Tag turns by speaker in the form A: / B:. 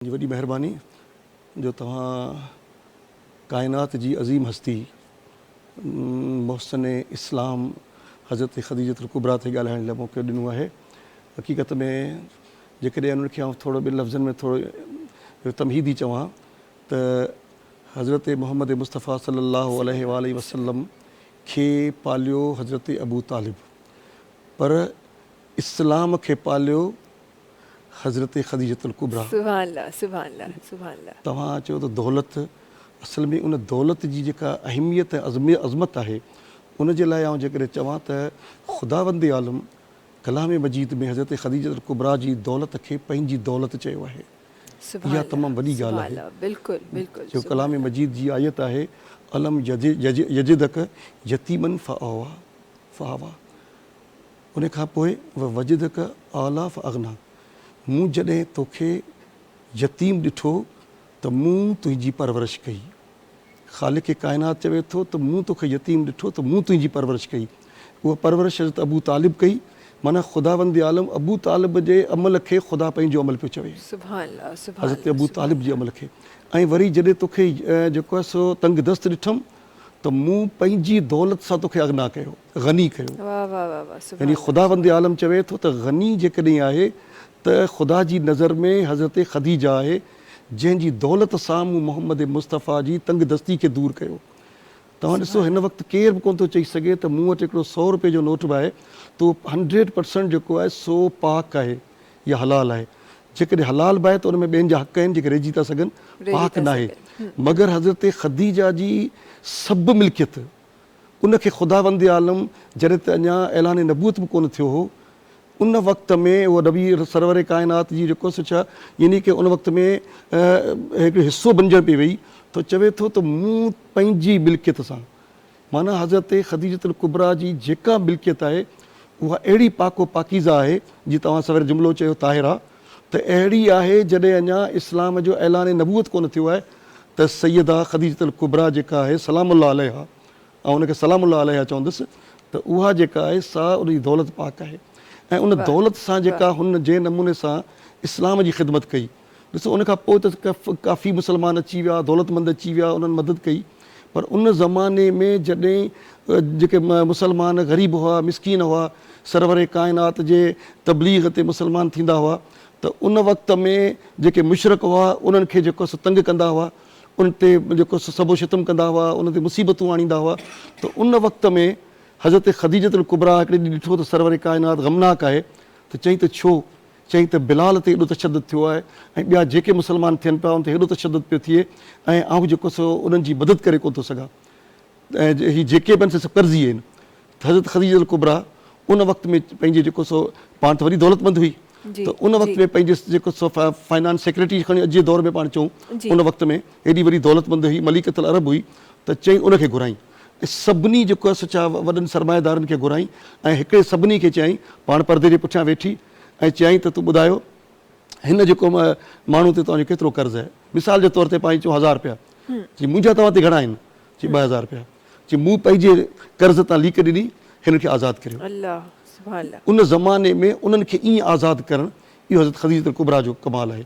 A: جي وڏي مهرباني جو توهان ڪائنات جي عظيم هستي محسن اسلام حضرت خديجة الڪبريٰ تي ڳالهائڻ لاء موقعو ڏنو آهي حقيقت ۾ جيڪڏهن انهن کي آئون ٿورو ٻن لفظن ۾ ٿورو تمهيدي چوان ته حضرت محمد مصطفيٰ صلي الله عليه واٰله وسلم کي پاليو حضرت ابوطالب پر اسلام کي پاليو حضرت خديجة الڪبريٰ. سبحان الله سبحان الله سبحان
B: الله. توهان چيو ته دولت
A: اصل ۾ ان دولت جي جيڪا اهميت ۽ عظمت آهي ان جي لاء آئون جيڪڏهن چوان ته خداوند عالم ڪلام مجيد ۾ حضرت خديجة الڪبريٰ جي دولت کي پنهنجي دولت چيو آهي سبحان اها تمام الله وڏي ڳالهه سبحان آهي الله بلڪل بلڪل جو
B: سبحان ڪلام الله. مجيد جي
A: آيت آهي الم يجدڪ يتيما فآويٰ فآويٰ. ان کان پوء ووجدک اعليٰ فاغنيٰ، مون جڏهن توکي يتيم ڏٺو ته مون تنهنجي پرورش ڪئي. خالق ڪائنات چوي ٿو ته مون توکي يتيم ڏٺو ته مون تنهنجي پرورش ڪئي. اها پرورش حضرت ابو طالب ڪئي. معنيٰ خداوند عالم ابو طالب جي عمل کي خدا پنهنجو عمل پيو چوي. حضرت ابو طالب جي عمل کي ۽ وري جڏهن توکي جيڪو آهي سو تنگ دست ڏٺم. ته مون پنهنجي دولت سان توکي اغنا ڪيو، غني ڪيو. يعني خداوند عالم چوي ٿو ته غني جيڪڏهن آهي ته خدا جي نظر ۾ حضرت خديجه آهي جنهن جي دولت سان مون محمد مصطفيٰ جي تنگدستي کي دور ڪيو. توهان ڏسو هن وقت ڪير به ڪونه ٿو چئي سگهي ته مون وٽ هڪڙو سؤ روپيه جو نوٽ به آهي ته اهو هنڊريڊ پرسنٽ جيڪو آهي سو پاڪ آهي. يا حلال آهي. جيڪڏهن حلال به آهي ته ان ۾ ٻين جا حق آهن جيڪي رهجي ٿا سگهن، پاڪ ناهي. مگر حضرت خديجه جي سڀ ملڪيت، ان کي خداوند عالم جڏهن ته اڃا اعلان نبوت به ڪونه ٿيو هو، ان وقت ۾ اهو نبي سرور ڪائنات جي جيڪو سو ڇا يعني ڪه ان وقت ۾ هڪڙو حصو بنجڻ پئي وئي ته چوي ٿو ته مون پنهنجي ملڪيت سان معنيٰ حضرت خديجة الڪبريٰ جي جيڪا ملڪيت آهي اها اهڙي پاڪ و پاڪيزه آهي، جيئن توهان سوير جملو چيو طاهرا، ته اهڙي آهي جڏهن اڃا اسلام جو اعلان نبوت ڪونه ٿيو آهي ته سيده خديجة الڪبريٰ جيڪا آهي سلام الله عليها، آئون ان کي سلام الله عليها چوندس، ته اها جيڪا آهي سا ان جي دولت پاڪ آهي ۽ ان دولت سان جيڪا هن جنهن نموني سان اسلام جي خدمت ڪئي. ڏسو ان کان پوء ته ڪافي مسلمان اچي ويا، دولتمند اچي ويا، انهن مدد ڪئي، پر ان زماني ۾ جڏهن جيڪي مسلمان غريب هئا، مسڪين هئا، سرور ڪائنات جي تبليغ تي مسلمان ٿيندا هئا ته ان وقت ۾ جيڪي مشرڪ هئا انهن کي جيڪو سو تنگ ڪندا هئا، ان تي جيڪو سو سب و شتم ڪندا هئا، انهن تي مصيبتون آڻيندا هئا ته ان وقت ۾ حضرت خديجة الڪبريٰ هڪڙي ڏينهن ڏٺو ته سرور ڪائنات غمناڪ آهي ته چيائين ته ڇو؟ چيائين ته بلال تي ايڏو تشدد ٿيو آهي ۽ ٻيا جيڪي مسلمان ٿين پيا ان تي هيڏو تشدد پيو ٿئي ۽ آئون جيڪو سو انهن جي مدد ڪري ڪونه ٿو سگهان ۽ هي جيڪي به آهن سي سڀ قرضي آهن ته حضرت خديجة الڪبريٰ ان وقت ۾ پنهنجي جيڪو سو پاڻ ته وڏي دولت مند هئي ته ان وقت ۾ پنهنجي جيڪو سو فائنانس سيڪريٽري کڻي اڄ جي دور ۾ پاڻ چئون ان وقت ۾ هيڏي وڏي دولت مند هئي مليڪة العرب هئي ته چيائين ان کي گهرائين. سڀني جيڪو آهي سو ڇا وڏن سرمائيدارن کي گهرائين ۽ هڪڙي سڀني کي چيائين پاڻ پردي جي پٺيان ويٺي ۽ چيائين ته تون ٻڌايو هن جيڪو ماڻهو تي توهان جو ڪيترو قرض آهي مثال جي طور تي پائين چئون هزار رپيا چي منهنجا توهان تي گهڻا آهن چي ٻه هزار رپيا چي مون پنهنجي قرض تان ليڪ ڏني هن کي آزاد ڪريو ان زماني ۾ انهن کي ائين آزاد ڪرڻ اهو حضرت خديجة الڪبريٰ جو ڪمال آهي.